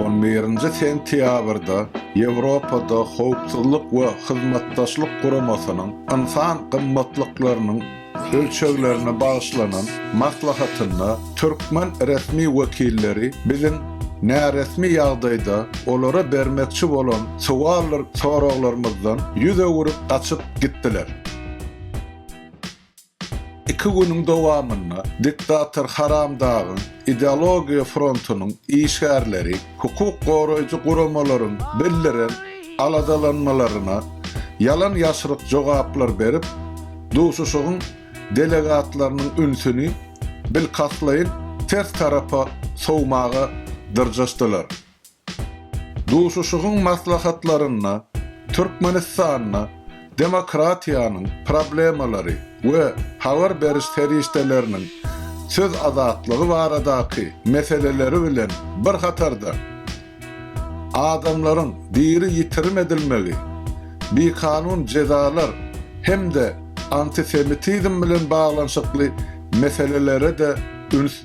On birinji sentýabrda Ýewropada Howpsuzlyk we Hyzmatdaşlyk Guramasynyň Ynsan gymmatlyklarynyň ölçeglerine bagyşlanan maslahatynda türkmen resmi wekilleri biziň näresmi ýagdaýda olara bermekçi bolan sowaldyr soraglarymyzdan ýüz öwürip gaçyp gitdiler. Iki günüň dowamynda diktator Haramdagyň ideologiýa frontunyň işgärleri hukuk goraýjy guramalaryň bildiren aladalanmalaryna ýalan-ýaşryk jogaplar berip, duşuşygyň delegatlarynyň ünsüni bilkastlaýyn ters tarapa sowmaga dyrjaşdylar. Duşuşygyň maslahatlarynda Türkmenistanda demokratiýanyň problemalary we habar beriş serişdeleriniň söz azatlygy baradaky meseleleri bilen bir hatarda, adamlaryň diri ýitirim edilmegi, bikanun jezalar hem-de antisemitizm bilen baglanyşykly meselelere-de üns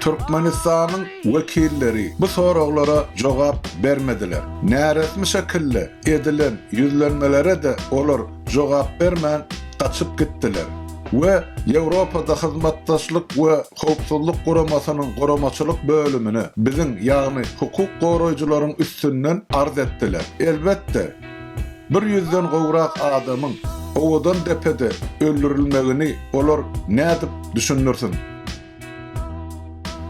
Türkmenistanyň wekilleri bu soraglara jogap bermediler. Näresmi şekilde edilen ýüzlenmelere-de olar jogap bermän gaçyp gitdiler we Ýewropada Hyzmatdaşlyk we Howpsuzlyk Guramasynyň guramaçylyk bölümine, biziň, ýagny hukuk goraýjylaryň üstünden arz etdiler. Elbetde, bir ýüzden gowrak adamyň Owadandepede öldürilmegini olar nädip düşündirsin?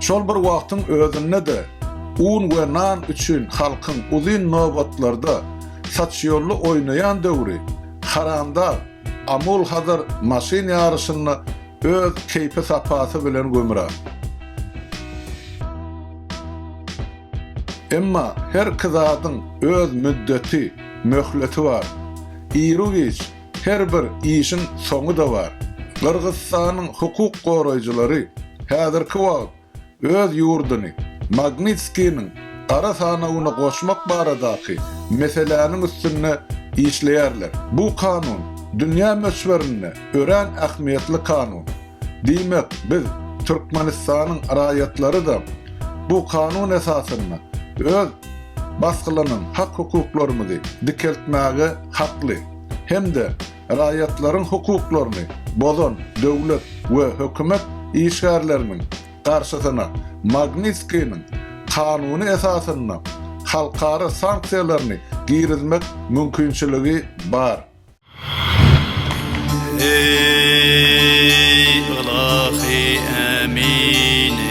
Şol bir wagtyň özünde-de, un we nan üçin halkyň uzyn nobatlarda saçýolla oýnaýan döwri haramdag Amul Hazar maşyn ýaryşynda öz keýpi-sapasy bilen gümra. Emma her iki zadyň öz müddeti, möhleti bar. Iru-giç, Her bir işiň soňy-da bar. Gyrgyzstanyň hukuk goraýjylary häzirki wagt öz ýurduny Magnitskiniň gara sanawyna goşmak baradaky meseläniň üstünde işleýärler. Bu kanun dünýä möçberinde örän ähmiýetli kanun. Diýmek, biz, Türkmenistanyň raýatlary-da bu kanun esasynda öz basgylanan hak-hukuklarymyzy dikeltmäge hakly. hem-de raýatlaryň hukuklaryny bozan döwlet we hökümet işgärleriniň garşysyna Magnitskiniň kanuny esasynda halkara sanksiýalaryny girizmek mümkinçiligi bar. Eý, ylahy ämini!